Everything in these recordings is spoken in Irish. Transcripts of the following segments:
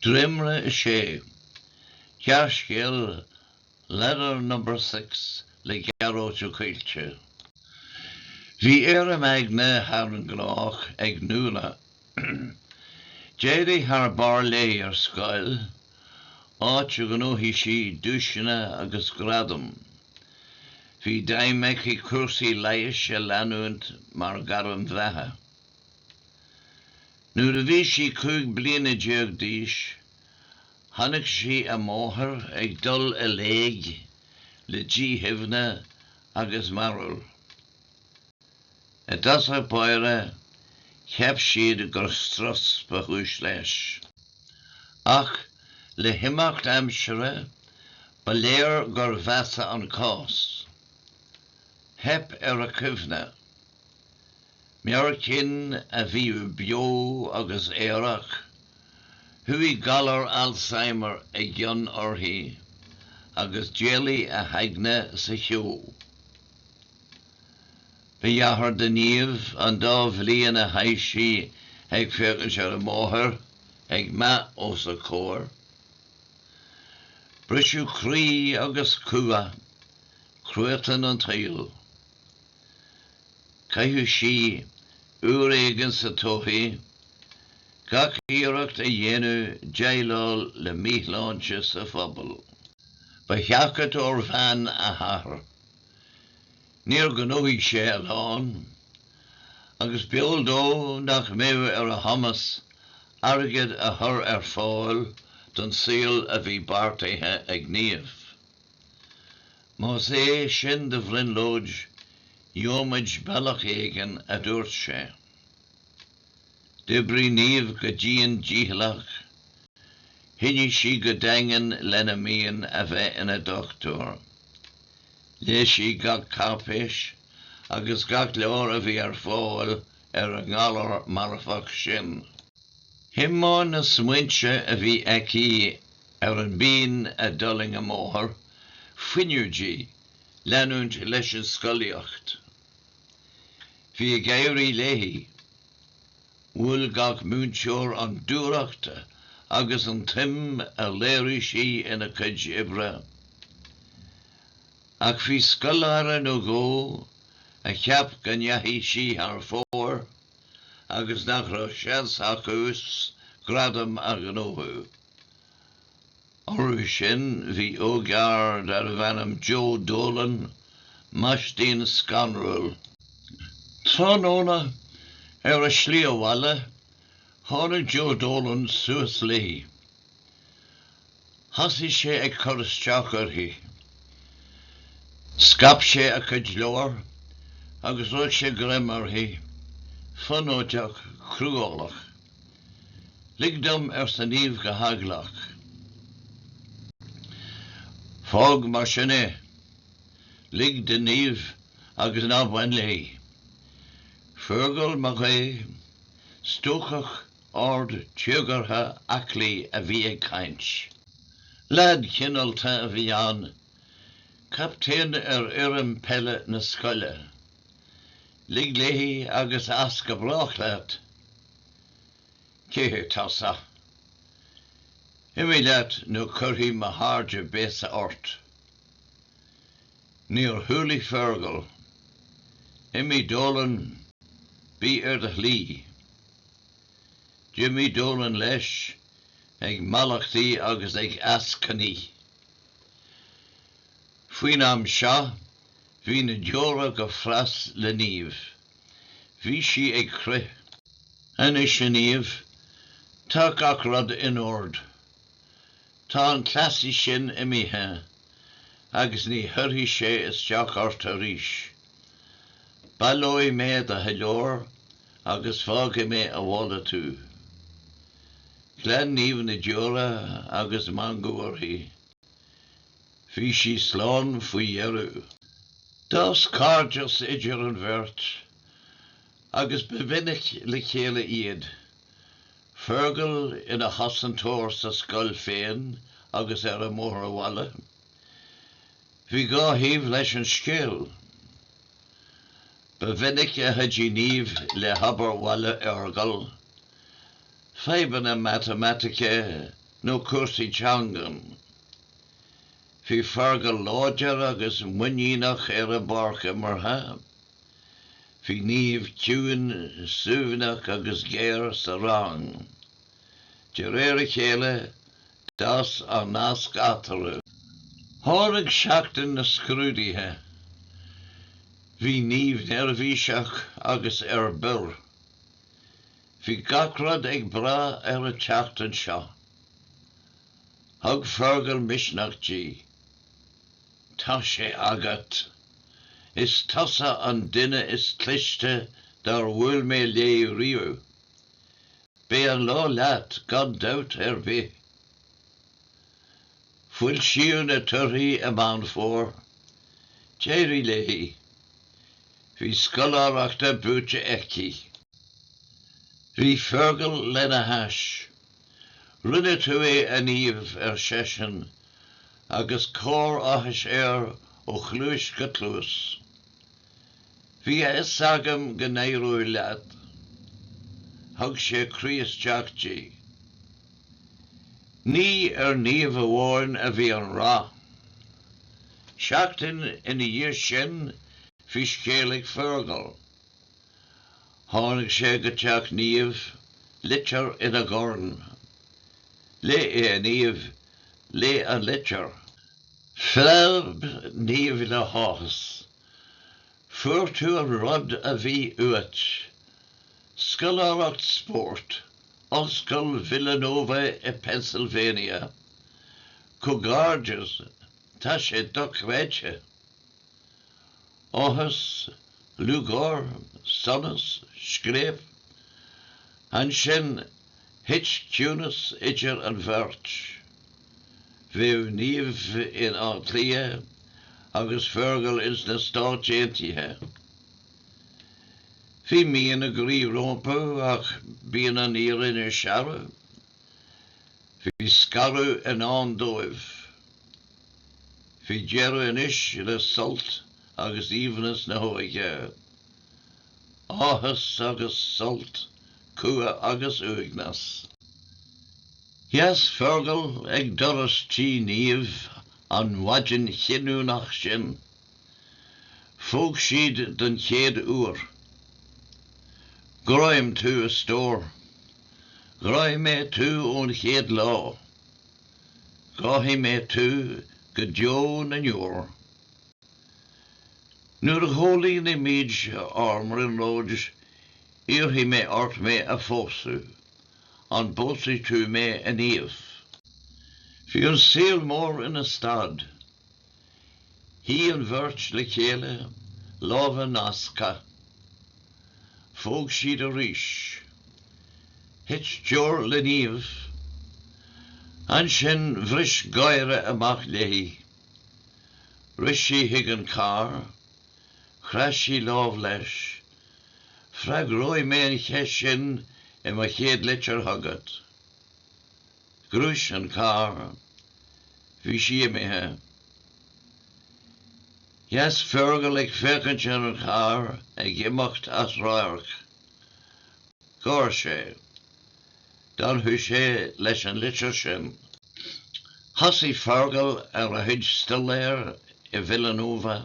Dréimre 6. Gearrscéal, 'Ladder Number Six' le Gearóid Ó Coillte. Bhí éirim aigne thar an ngnách ag Nuala. D'éirigh thar barr léi ar scoil, áit ar ghnóthaigh sí duaiseanna agus gradaim. Bhí d'aidhm aici cúrsaí leighis a leanúint mar ghairm bheatha. Nuair a bhí sí cúig bliana déag d'aois, chonaic sí a máthair ag dul i léig le díchuimhne agus mearbhall. I dtosach báire, cheap siad gur strus ba chúis leis. Ach le himeacht aimsire, ba léir gur mheasa an cás. Theip ar a cuimhne. Meabhair cinn a bhíodh beo agus aerach, chuaigh galar Alzheimer i gcion uirthi agus d'éalaigh a haigne sa cheo. Ba dheacair do Niamh an dá bhliain a chaith sí ag féachaint ar a máthair ag meath os a comhair. Briseadh croí agus cumha, cruatan an tsaoil. Chaithfeadh sí uair éigin sa todhchaí gach iarracht a dhéanamh déileáil le míshláinte sa phobal. Ba sheachadóir veain a hathair. Níor ghnóthaigh sé a lán, agus b'eol dó nach mbeadh ar a chumas airgead a chur ar fáil don saol a bhí beartaithe ag Niamh. Más é sin do bhrionglóid, gheobhaimid bealach éigin, a dúirt sé. D'oibrigh Niamh go dian dícheallach. Choinnigh sí go daingean lena mian a bheith ina dochtúir. Léigh sí gach cáipéis agus gach leabhar a bhí ar fáil ar an ngalar marfach sin. Thiomáin na smaointe a bhí aici ar an bpian a d'fhulaing a máthair, fuinneamh di leanúint leis an scolaíocht. Bhí ag éirí léi. Mhol gach múinteoir an dúthracht agus an tsuim a léirigh sí ina cuid oibre. Ach bhí scoláire nó dhó a cheap go ndeachaigh sí thar fóir agus nach raibh seans acusan gradam a ghnóthú. Orthu sin bhí ógfhear darbh ainm Joe Dolan, maistín scanrúil. Tráthnóna, ar a slí abhaile, tháinig Joe Dolan suas léi. Thosaigh sé ag cur isteach uirthi. Scaip sé a cuid leabhar agus rug sé greim uirthi, fonóideach, cruálach. Lig dom, arsa Niamh go heaglach. Fág mar sin é. Lig do Niamh agus ná bain léi. Fergal Mac Aodha, stuacach, ard, téagartha, aclaí, a bhí ag caint. Leaid cineálta a bhí ann, captaen ar fhoireann peile na scoile. Lig léi agus as go brách leat. Cé hé tusa? Imigh leat nó cuirfidh mo chairde béasa ort. Níor chúlaigh Fergal. Imigh Dolan, bí ar do shlí. D'imigh Dolan leis, ag mallachtaí agus ag eascainí. Faoin am seo, Bhí na deora go fras le Niamh. Bhí sí ag crith. Anois, a Niamh, tá gach rud in ord. Tá an cleasaí sin imithe agus ní chuirfidh sé isteach ort arís. Baileoidh mé do chuid leabhar agus fágfaidh mé abhaile tú. Ghlan Niamh na deora agus meangadh uirthi. Bhí sí slán faoi dheireadh. D'fhás cairdeas idir an bheirt agus ba mhinic le chéile iad, Fergal ina chosantóir sa scoil féin agus ar an mbóthar abhaile. Bhí dhá thaobh leis an scéal. Ba mhinic a chuidigh Niamh le hobair bhaile Fhergal, fadhbanna matamaitice nó cúrsaí teangan. Bhí Fergal láidir agus muiníneach ar an bpáirc imeartha. Bhí Niamh ciúin, suaimhneach agus géar sa rang. De réir a chéile, d'fhás an nasc eatarthu. Tháinig seachtain na scrúduithe. Bhí Niamh neirbhíseach agus ar bior. Bhí gach rud ag brath ar an tseachtain seo. Thug Fergal misneach di. Tá sé agat. Is tusa an duine is cliste dár bhuail mé léi riamh. Beidh an lá leat gan dabht ar bith. Foilsíodh na torthaí i Meán Fómhair. D'éirigh léi. Bhí scoláireachta buaite aici. Bhí Fergal lena hais. Rinne tú é, a Niamh, ar seisean, agus cár áthais air ó chluais go cluas. Bhí a fhios agam go n-éireoidh leat. Thug sé croí isteach di. Ní ar Niamh amháin a bhí an rath. Seachtain ina dhiaidh sin bhí scéal ag Fergal Tháinig sé go teach Niamh, litir ina dhorn. Léigh é, a Niamh, léigh an litir. Phreab Niamh le háthas. Fuair tú an rud a bhí uait. Scoláireacht spóirt, Ollscoil Villanova i Pennsylvania. Comhghairdeas, tá sé dochreidte. Áthas, lúcháir, sonas, scléip. Ansin, thit ciúnas idir an bheirt. Bheadh Niamh in Áth Cliath agus Fergal ins na Stáit Aontaithe. Bhí mian a gcroí rompu ach bíonn an fhírinne searbh. Bhí scaradh i ndán dóibh. Bhí deireadh anois le sult agus aoibhneas na hóige. Áthas agus sult, cumha agus uaigneas. Sheas Fergal ag doras tí Niamh an mhaidin chinniúnach sin. Phóg siad den chéad uair. Gráim thú, a stór. Ghráigh mé thú ón chéad lá. Gráfaidh mé thú go deo na ndeor. Nuair a chomhlíonfaimid ár mbrionglóidí, iarrfaidh mé ort mé a phósadh. An bpósfaidh tú mé, a Niamh? Bhí an saol mór ina stad. Shuigh an bheirt le chéile, lámha nasctha. Phóg siad arís. Thit deoir le Niamh. Ansin bhris gáire amach léi. Rith sí chuig an carr. Chroith sí lámh leis. 'Freagróidh mé an cheist sin i mo chéad litir chugat. Ghluais an carr. Bhí sí imithe. Sheas Fergal ag féachaint ar an charr ag imeacht as radharc. Gháir sé. D'fhanfadh sé leis an litir sin. Thosaigh Fergal ar a chuid staidéir i Villanova.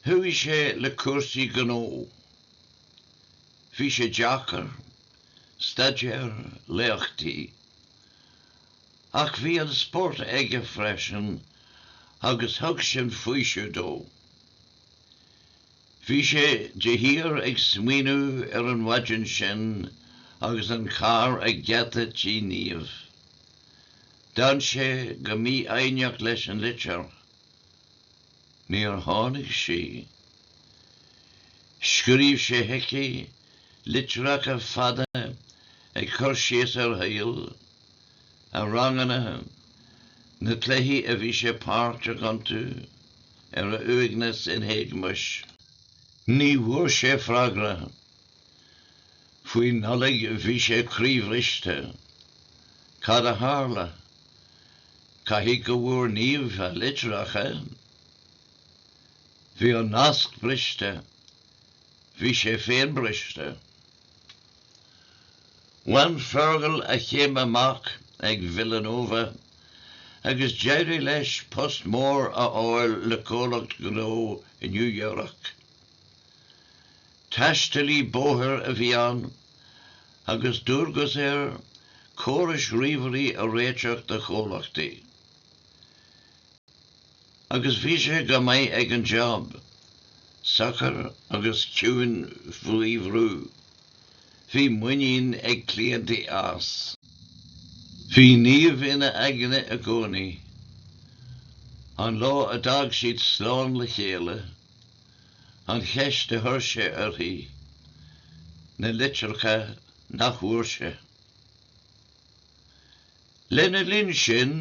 Chuaigh sé le cúrsaí gnó. Bhí sé deacair. staidéar, léachtaí. Ach bhí an spórt aige freisin agus thug sin faoiseamh dó. Bhí sé de shíor ag smaoineamh ar an mhaidin sin agus an carr ag geata tí Niamh. D'fhan sé go mífhoighneach leis an litir. Níor tháinig sí. Scríobh sé chuici litreacha fada ag cur síos ar a shaol, a ranganna, na cluichí a bhí sé páirteach iontu, ar a uaigneas ina héagmais. Ní bhfuair sé freagra. Faoi Nollaig bhí sé croíbhriste. Cad a tharla? Caithfidh go bhfuair Niamh a litreacha. Bhí an nasc briste. Bhí sé féin briste. Bhain Fergal a chéim amach ag Villanova agus d'éirigh leis post mór a fháil le comhlacht gnó i New York. Taistealaí bóthair a bhí ann agus dualgas air córais ríomhairí a réiteach do chomhlachtaí. Agus bhí sé go maith ag an jab, socair agus ciúin faoi bhrú. Bhí muinín ag cliantaí as. Bhí Niamh ina aigne i gcónaí. An lá a d'fhág siad slán le chéile, an cheist a chuir sé uirthi, na litreacha nach bhfuair sé. Lena linn sin,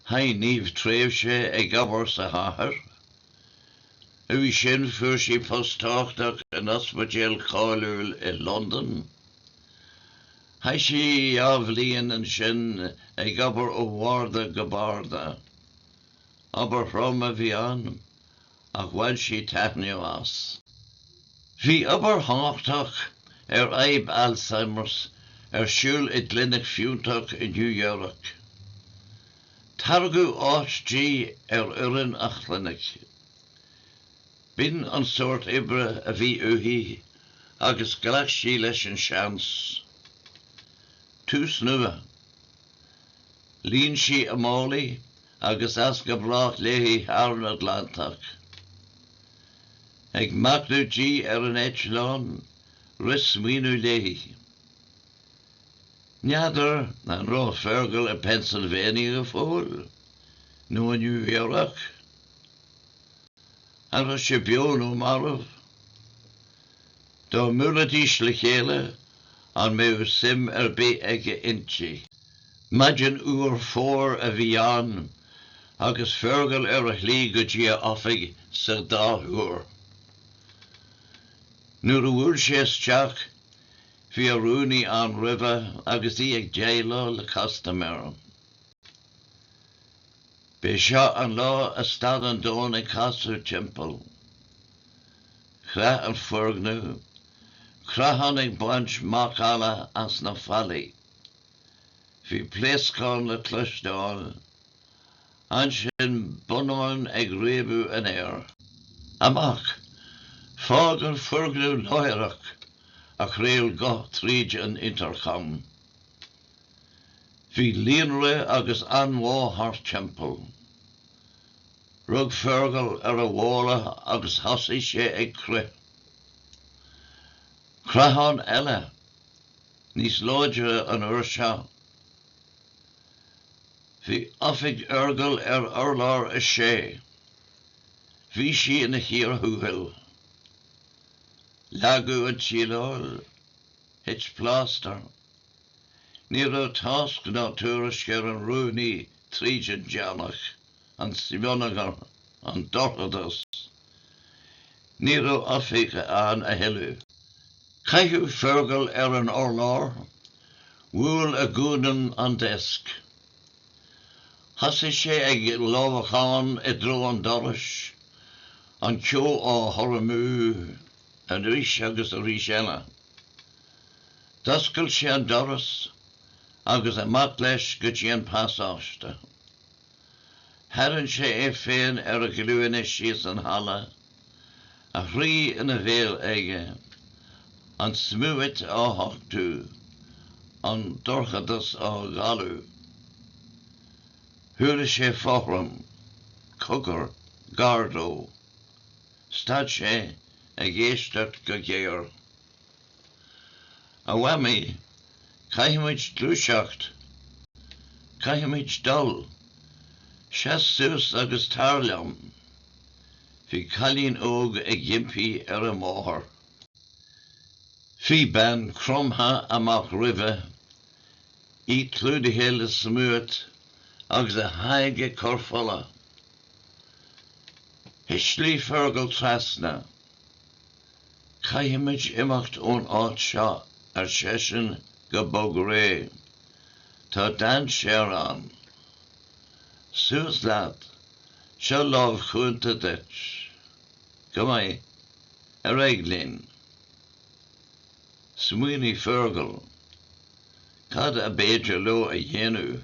chaith Niamh tréimhse ag obair sa chathair. Uaidh sin fuair sí post tábhachtach in ospidéal cáiliúil i Londain. Chaith sí dhá bhliain ansin ag obair ó bharda go barda. Obair throm a bhí ann, ach bhain sí taitneamh as. Bhí obair thábhachtach ar fhadhb Alzheimers ar siúl i gclinic fiúntach i New York. Tairgeadh áit di ar fhoireann an chlinic. B'in an sórt oibre a bhí uaithi agus ghlac sí leis an seans. Tús nua. Líon sí a málaí agus as go brách léi thar an Atlantach. Ag machnamh di ar an eitleán, rith smaoineamh léi. N'fheadar an raibh Fergal i Pennsylvania go fóill? Nó i New York? An raibh sé beo nó marbh? Dá mbuailfidís le chéile, an mbeadh suim ar bith aige inti? Maidin fhuar Fómhair a bhí ann agus Fergal ar a shlí go dtí a oifig sa dá thúr. Nuair a bhuail sé isteach, bhí a rúnaí ann roimhe agus í ag déileáil le custaiméir. B'é seo an lá a stad an domhan ag casadh timpeall. Chreath an foirgneamh, creathán ag baint macalla as na fallaí. Bhí pléascán le cloisteáil. Ansin bonnáin ag réabadh an aeir. Amach! Fág an foirgneamh láithreach! a chraol guth tríd an intercom. Bhí líonrith agus anbhá thart timpeall. Rug Fergal ar a mhála agus thosaigh sé ag crith. Creathán eile! níos láidre an uair seo. Bhí oifig Fhergal ar urlár a sé. Bhí sí ina chíor thuathail. Leagadh an tsíleáil. Thit plástar. Ní raibh tásc ná tuairisc ar an rúnaí tríd an deannach. an smionagar, an dorchadas. Ní raibh oifig ann a thuilleadh. Caitheadh Fergal ar an urlár, bhuail a ghualainn an deasc. Thosaigh sé ag lámhacán i dtreo an dorais, an ceo á chur amú arís agus arís eile. D'oscail sé an doras agus amach leis go dtí an pasáiste. Tharraing sé é féin ar a ghlúine síos an halla, a chroí ina bhéal aige, an smúit á thachtú, an dorchadas á dhalladh. Chuala sé fothram, cogar, gar dó. Stad sé, ag éisteacht go géar. A Mhamaí, caithfimid gluaiseacht. Caithfimid dul. Seas suas agus tar liom. Bhí cailín óg ag impí ar a máthair. Bhí bean cromtha amach roimhe, í clúdaithe le smúit agus a haghaidh ag cur fola. Thuisligh Fergal trasna. Caithfimid imeacht ón áit seo, ar seisean go bog réidh. Tá dainséar ann. Suas leat. Seo lámh chúnta duit. Go maith. Ar aghaidh linn. Smaoinigh Fergal. Cad ab fhéidir leo a dhéanamh?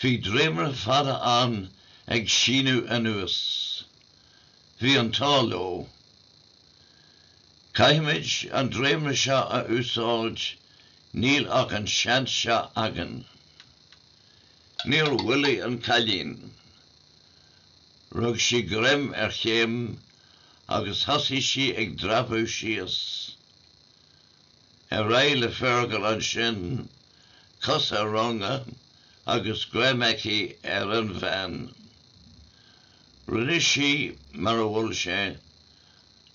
Bhí dréimire fada ann ag síneadh anuas. Bhí an t-ádh leo. Caithfimid an dréimire seo a úsáid, níl ach an seans seo againn. Níor mhoilligh an cailín. Rug sí greim ar chéim agus thosaigh sí ag dreapadh síos. Ar aghaidh le Fergal ansin, cos ar runga agus greim aici ar an bhean. Rinne sí mar a mhol sé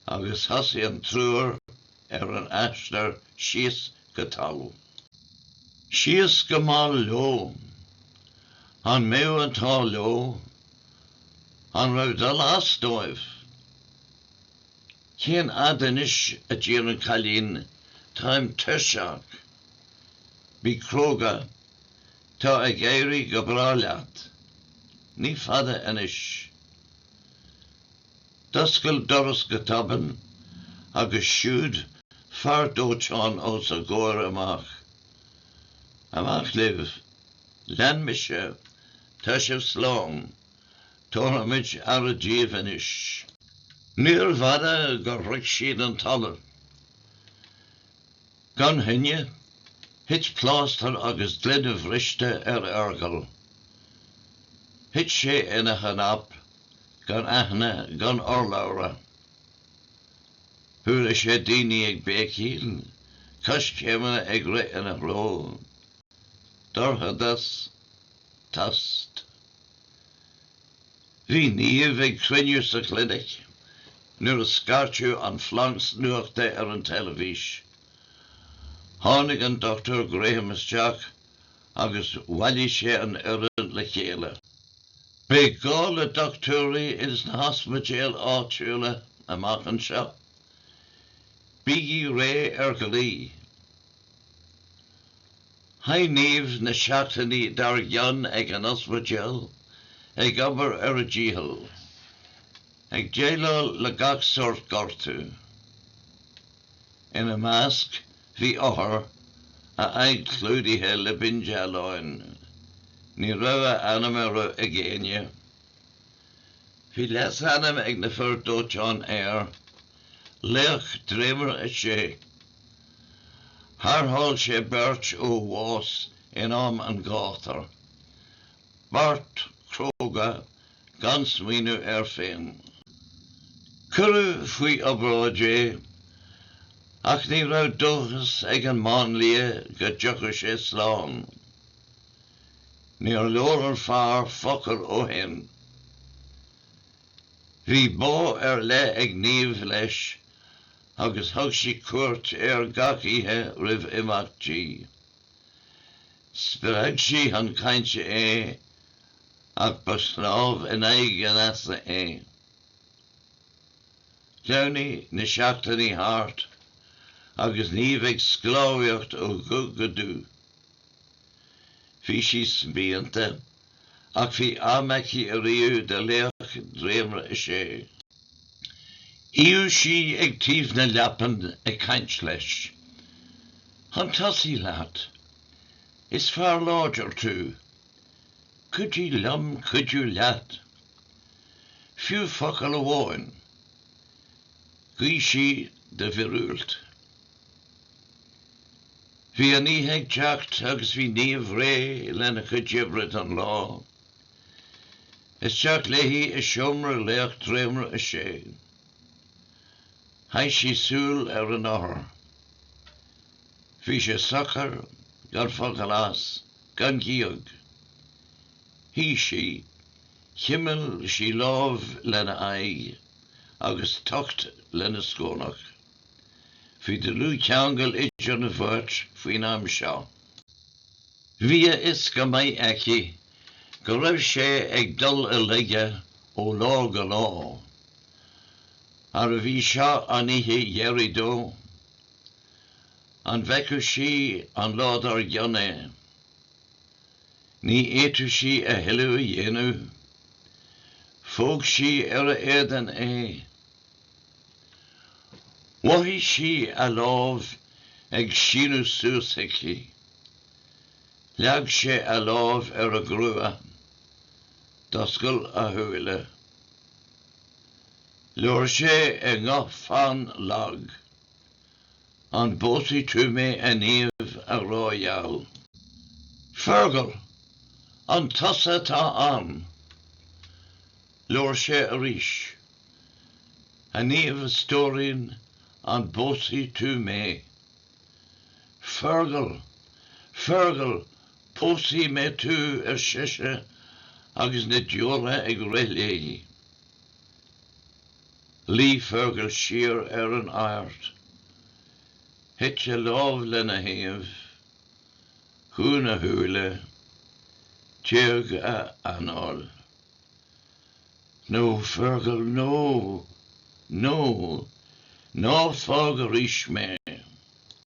agus thosaigh an triúr ar an aistear síos go talamh. Síos go mall leo. An mbeadh an t-ádh leo? An raibh dul as dóibh? Cén fhad anois, a d'iarr an cailín, táim tuirseach. Bí cróga, tá ag éirí go breá leat. Ní fada anois. D'oscail doras go tobann agus siúd fear dóiteáin os a gcomhair amach. Amach libh. Lean mise. Tá sibh slán. Tabharfaimid aire daoibh anois. Níorbh fhada gur shroich siad an talamh. Gan choinne, thit plástar agus gloine bhriste ar Fhergal. Thit sé ina chnap, gan aithne gan urlabhra. Chuala sé daoine ag béicíl, coiscéimeanna ag rith ina threo. Dorchadas. Tost. Bhí Niamh ag cruinniú sa chlinic nuair a scairteadh an splanc nuachta ar an teilifís. Tháinig an Dr Graham isteach agus bhailigh sé an fhoireann le chéile. Beidh gá le dochtúirí ins na hospidéil áitiúla amach anseo. Bígí réidh ar glaoch. Chaith Niamh na seachtainí dár gcionn ag an ospidéal, ag obair ar a dícheall, ag déileáil le gach sórt gortú. Ina measc, bhí othar, a aghaidh clúdaithe le bindealáin. Ní raibh a ainm ar eolas ag éinne. Bhí leasainm ag na fir dóiteáin air, Laoch Dréimire 6. Tharrtháil sé beirt ó bhás in am an ghátair, beart cróga gan smaoineamh air féin. Cuireadh faoi obráid é ach ní raibh dóchas ag an máinlia go dtiocfadh sé slán. Níor labhair an fear focal ó shin. Bhí bá ar leith ag Niamh leis agus thug sí cuairt air gach oíche roimh imeacht di. Spreag sí chun cainte é ach ba shnámh in aghaidh an easa é. Shleamhnaigh na seachtainí thart agus Niamh ag sclábhaíocht ó dhubh go dubh. Bhí sí spíonta. ach bhí am aici ariamh do Laoch Dréimire 6. Shuíodh sí ag taobh na leapan ag caint leis. Chun tosaigh leat. Is fear láidir tú. Cuidigh liom cuidiú leat. Fiú focal amháin. Ghuigh sí do mhíorúilt. Bhí an oíche ag teacht agus bhí Niamh réidh lena cuid oibre don lá. Isteach léi i seomra Laoch Dréimire 6. Chaith sí súil ar an othar. Bhí sé socair, gan focal as, gan gíog. Shuigh sí, chimil sí lámh lena aghaidh agus tocht lena scornach. Bhí dlúthcheangal idir an bheirt faoin am seo. Bhí a fhios go maith aici go raibh sé ag dul i laige ó lá go lá. Arbh í seo an oíche dheiridh dó? An bhfeicfeadh sí an lá dár gcionn é? Ní fhéadfadh sí a thuilleadh a dhéanamh. Phóg sí ar a éadan é. Mhothaigh sí a lámh ag síneadh suas aici. Leag sé a lámh ar a grua. D'oscail a shúile. Labhair sé i nguth fann lag. 'An bpósfaidh tú mé, a Niamh, a ghrá gheal? 'Fergal! An tusa atá ann? Labhair sé arís. A Niamh a stóirín, an bpósfaidh tú mé? Fergal! Fergal! Pósfaidh mé tú, ar sise, agus na deora ag rith léi. Luigh Fergal siar ar an adhairt. Thit a lámh lena thaobh. Dhún a shúile. D'éag a anáil. No, Fergal, no! No! Ná fág arís mé!